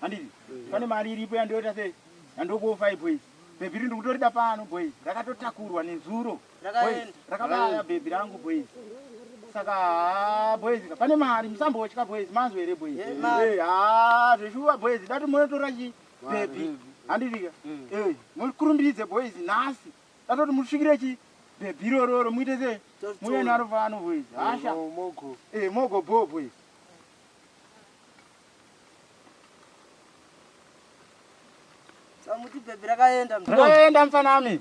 Handiti pane mari iripo yandoita se yandokuwo 5 boys. Bhebhi riri ndikutorida pano boys. Rakatotakurwa nezuro. Boys rakabaya bhebhi rangu boys. Saka haa boys ka pane mari musambotya boys manzwa here boys. Eh haa zveshuwa boys dati monotora chi bhebhi. Handiti ka eh mukurumbidze boys nhasi. Datoti musvikire chi bhebhi irororo muite se muye naro pano boys. Hasha. Eh mogo bho boys. Samuti baby rakaenda. Rakaenda mfana ami.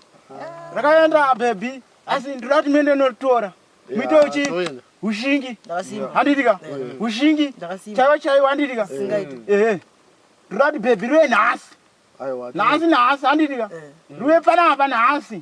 Rakaenda baby. Asi ndiri kuti mende notora. Mito uchi. Ushingi. Ndakasimba. Handitika. Ushingi. Ndakasimba. Chaiwa chaiwa handitika. Singaiti. Eh. Ndiri kuti baby rue nhasi. Nhasi nhasi handitika. Rue pana apa nhasi.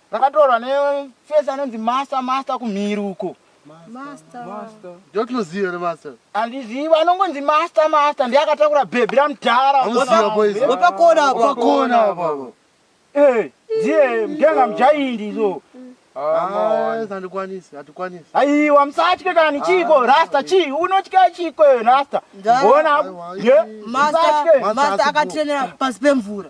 Rakatorwa ne face anonzi master master kumhiri uko. Master. Master. Ndotinoziva here master? Andiziva anongonzi master master ndiye akatakura bhebhi ramudhara. Anoziva boys. Wapakona apa. Wapakona apa. Eh, ndiye mdenga mujaindi izo. Ah, sandikwanisi, hatikwanisi. Aiwa musatye kana nichiko ah, rasta chi unotya chiko yo rasta. Bona. Ye. Master master akatrenera pasi pemvura.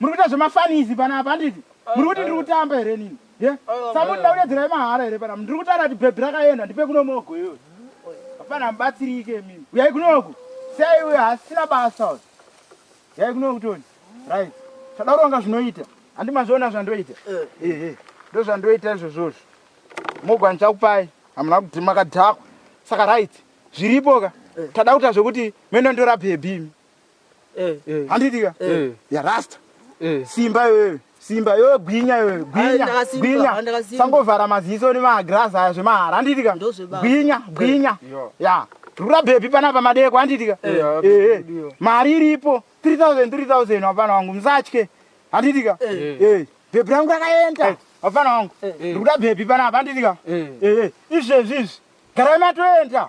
Muri kuita zvemafanisi pana apa handiti? Muri kuti ndiri kutamba here nini? Ye? Samuti ndakunyadzira yemahara here pana? Ndiri kutaura kuti bhebhi rakaenda ndipe kuno mogo iyoyo. Hapana mubatsirike mimi. Uyai kunoku. Sei uyo hasina basa uyo. Uyai kunoku Tony. Right. Tadaronga zvinoita. Handi mazviona zvandoita. Eh. Eh. eh. Ndozvandoita izvozvozvo. Mogo andichakupai. Hamuna kuti makadhakwa. Saka right. Zviripo ka. Eh. Tada kuita zvekuti meno ndora bhebhi imi. Eh, eh. handiti ka Eh. yarasta Eh. simba iwewe simba iwewe gwinya iwewe Ah, gwinya ndakasimba, gwinya ah, ndakasimba. sangovhara maziso nemagirazi aya zvemahara handiti ka Ndozvebaba. gwinya gwinya Yeah. ya rura bhebhi panapa madeko handiti ka Yeah, Eh, eh. yeah. mari iripo 3000 3000 wapana wangu musatye handiti ka Eh. Eh, bhebhi rangu rakaenda wapana wangu Eh. rikuda bhebhi panapa handiti ka Eh. Eh, eh. izvezvi izvi garai matoenda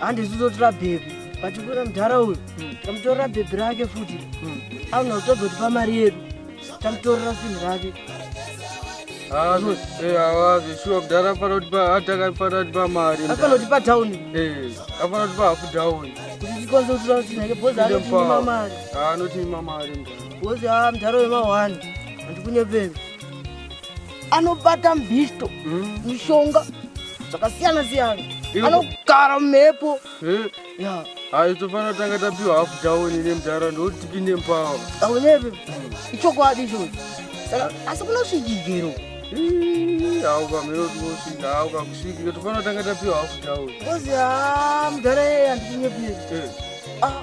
handi zvizotora bhebhi but kuna mudhara uyu hmm. tamutorera bhebhi rake futi hmm. auna kutozotipa mari yedu tamutorera sinhi rake zveshuwa mudhara afanatipa mari afanatipa down eh, afanatipa hafu down kutikonzotura kuti nake bhozi anotiima mari anotiima mari bhozi a mudhara wemahwani handikunyepeni anobata mbisto mm. mishonga zvakasiyana siyana anogara mumhepo eh? ya hayi tofanira tanga tapiwa hafu taoni nemudhara ndokuti tipinde mupawa auneve mm. ichokwadi ichocho saka asi kunosvijigero hawu kamhero tinosvika hawu kakusvikira tofanira tanga tapiwa hafu taoni kozi ha mudhara yeye handichinyepiri eh. ah.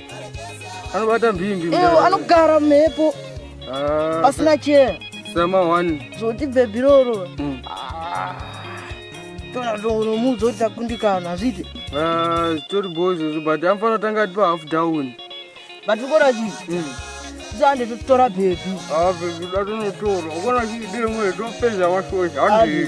anobata mbingi ewo anogara mhepo ah, pasina chee sama one zvoti bhebhiroro mm. ah, tona tonomuudza kuti takundikana hazviti ah, zvitori bo izvozvo but anofana tanga atipa half down but ukona chii mm. zande totora bhebhi bhebhi datonotora ukona chii demwe topedza washosha handii